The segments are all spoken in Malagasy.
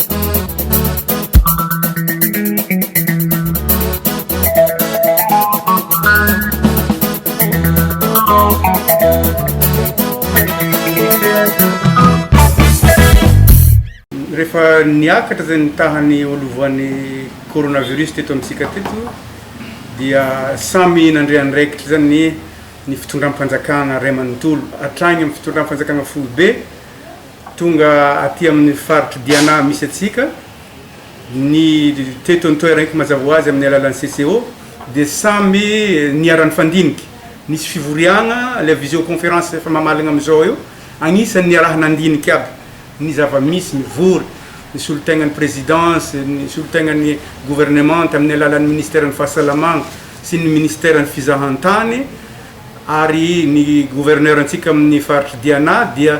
Rehefa niakatra izay ny tahan'ny olovoan'ny coronavirus teto amintsika teto dia samy nandre andraikitra izany ny ny fitondram-panjakana iray manontolo hatrany amin'ny fitondram-panjakana foibe Tonga aty amin'ny faritr'i Diana misy antsika ny teto an-toeranky mazava ho azy amin'ny alalan'ny CCO dia samy niara-nifandinika. Nisy fivoriagna, ilay visioconférence efa mamalagna amin'izao eo, agnisan'ny niaraha-nandinika aby ny zava-misy, mivory, ny solon-tegnan'ny Présidence, ny solon-tegnan'ny Gouvernement tamin'ny alalan'ny Ministeran'ny Fahasalamagna sy ny Ministeran'ny Fizahan-tany ary ny Gouverneur antsika amin'ny faritr'i Diana dia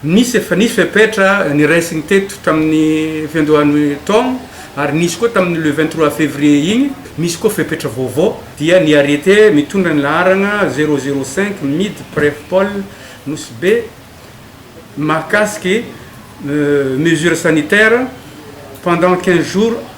Nisy efa nisy fepetra niraisiny teto tamin'ny fiandohan'ny taona ary nisy koa tamin'ny le vingt trois février iny, misy koa fepetra vaovao dia ny arrêté mitondra ny laharana zéro zéro cinq mid pref pol Nosy Be mahakasiky mesures sanitaires pendant quinze jours.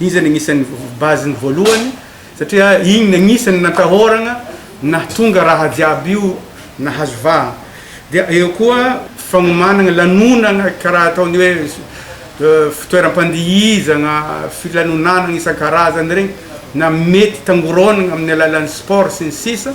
Izy no anisan'ny base-ny voalohany satria iny no anisan'ny natahorana nahatonga raha jiaby io nahazo vahana. Dia eo koa fagnomanana lanonana karaha ataon'ny hoe fitoeram-pandihizana, filanonanana isan-karazany regny na mety tangoronana amin'ny alalan'ny sport sy ny sisa.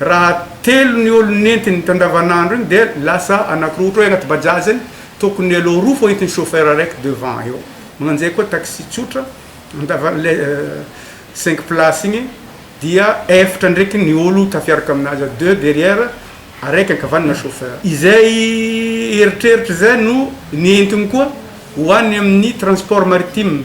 Raha telo ny olo nentiny teo andavanandro iny dia lasa anakiroa ohatra hoe anaty bajaj iny tokony elo roa fô entin'ny chauffeur araiky devant eo magnanjay koa taxi tsotra andavan le cinq place igny dia efatra ndraiky ny olo tafiaraka aminazy deux derrière araiky ankavanana chauffeur izay eritreritry zay no nentiny koa ho any amin'ny transport maritime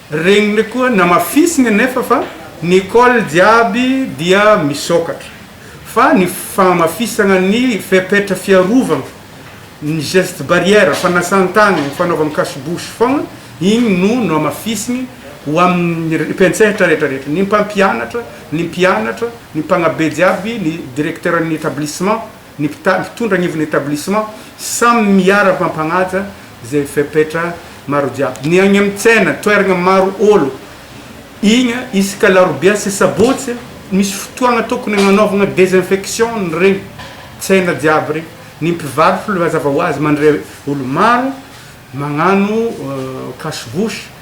Regniny koa namafisiny anefa fa ny col jiaby dia misokatra, fa ny fahamafisagna ny fepetra fiarovagna, ny geste barrière, fanasan-tagna, ny fanaovagna cache bouche fogna, igny no nohamafisiny ho amin'ny mpiantsehatra rehetra rehetra, ny mpampianatra, ny mpianatra, ny mpagnabe jiaby, ny directeur-n'ny etablissement, Ny mpitandro mpitondra anivon'ny etablissement samy miara mpampagnaja zay fepetra maro jiaby. Ny agny am tsena, toeragna maro olo igny, isaka larobia sy sabotsy, misy fotoagna tokony agnanaovagna desinfection ny regny tsena jiaby regny. Ny mpivarotra aloha mazava hoazy mandre olo maro magnano cache bouche.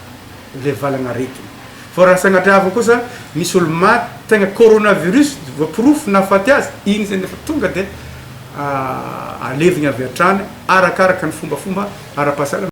ilay valanaretina. Fa raha sanatria avy kosa misy olo-maty tegna coronavirus voaporofo nahafaty azy, igny zegny efa tonga dia alevigny avy hatrany arakaraka ny fombafomba ara-pahasalamana.